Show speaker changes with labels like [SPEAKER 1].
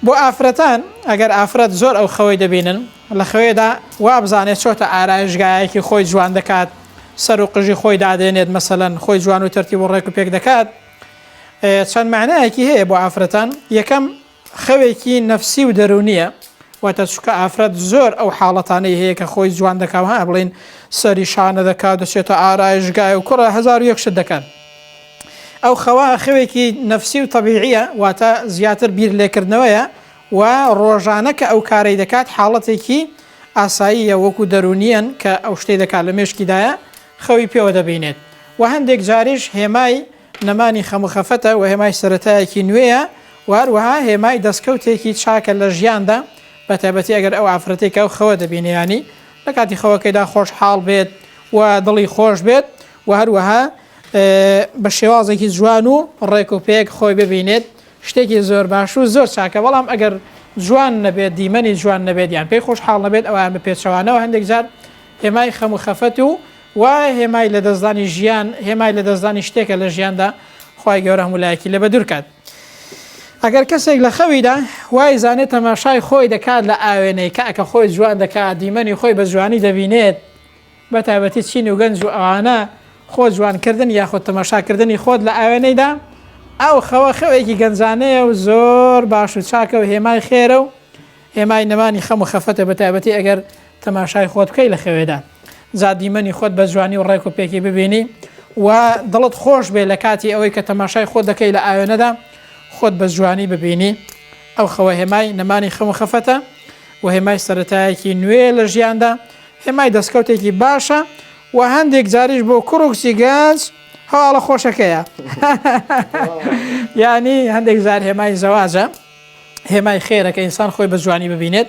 [SPEAKER 1] بۆ ئافرەتان، ئەگەر ئافرەت زۆر ئەو خەوەی دەبینن، لە خەوێدا وابزانێت چۆتە ئارایشگایەکی خۆی جوان دەکات، سەر و قژی خۆی دادێنێت مەسەلەن، خۆی جوان و تەرتیب و ڕێک و پێک دەکات، چەند مەعنایەکی هەیە بۆ ئافرەتان، یەکەم، خەوێکی نەفسی و دەروونییە، واتە چونکە ئافرەت زۆر ئەو حاڵەتانەی هەیە کە خۆی جوان دەکات و ها بڵێین سەری شانە دەکات و دەچێتە ئارایشگای و کوڕە هەزار و یەک شت دەکات، ئەو خەوە خەوێکی نەفسی و تەبیعییە، واتە زیاتر بیر لێکردنەوەیە و ڕۆژانە کە ئەو کارەی دەکات حاڵەتێکی ئاساییە وەکو دەروونییەن کە ئەو شتەی دەکات لە مێشکیدایە خەوی پێوە دەبینێت و هەندێک جاریش هێمای نەمانی خەم و خەفەتە و هێمای سەرەتایەکی نوێیە و هەروەها هێمای دەستکەوتێکی چاکە لە ژیاندا بە تایبەتی ئەگەر ئەو ئافرەتێک ئەو خەوە دەبینێ ینی لە کاتی خەوەکەیدا خۆشحاڵ بێت و دڵی خۆش بێت و هەروەها بە شێوازێکی جوان و ڕێک و پێک خۆی ببینێت شتێکی زۆر باش و زۆر چاکە بەڵام ئەگەر جوان نەبێت دیمەنی جوان نەبێت یان پێی خۆش حاڵ نەبێت ئەویان بە پێچەوانەوە هەندێک جار هێمای خەم و خەفەت و و هێمای لە دەستدانی ژیان هێمای لە دەستدانی شتێکە لە ژیاندا خی گەورە هەمولایەکی لە بەدورکات. ئەگەر کەسێک لە خەویدا وای زانێت تەماشای خۆی دەکات لە ئاوێنەی کە ئەکە خۆی جوان دەکات دیمەنی خۆی بە جوانی دەبینێت بەتایبەتی چین و گەنج و ئەوانە، خۆ جوانکردن یاخود تەماشاکردنی خۆت لە ئاوێنەیدا، ئەو خەوە خەوێکی گەنجانەیە و زۆر باش و چاکە و هێمای خێرە و هێمای نەمانی خەم و خەفەتە بەتایبەتی ئەگەر تەماشای خۆت بکەی لە خەوێدا جا دیمەنی خۆت بە جوانی و ڕێک و پێکی ببینی و دڵت خۆش بێ لە کاتی ئەوەی کە تەماشای خۆت دەکەی لە ئاوێنەدا خۆت بە جوانی ببینی ئەو خەوە هێمای نەمانی خەم و خەفەتە و هێمای سەرەتایەکی نوێ لە ژیاندا هێمای دەستکەوتێکی باشە و هەندێک جاریش بۆ کوڕ و کچی گەنج هەواڵە خۆشەکەیە یانی هەندێک جار هێمای زەواجە هێمای خێرەکە ئینسان خۆی بە جوانی ببینێت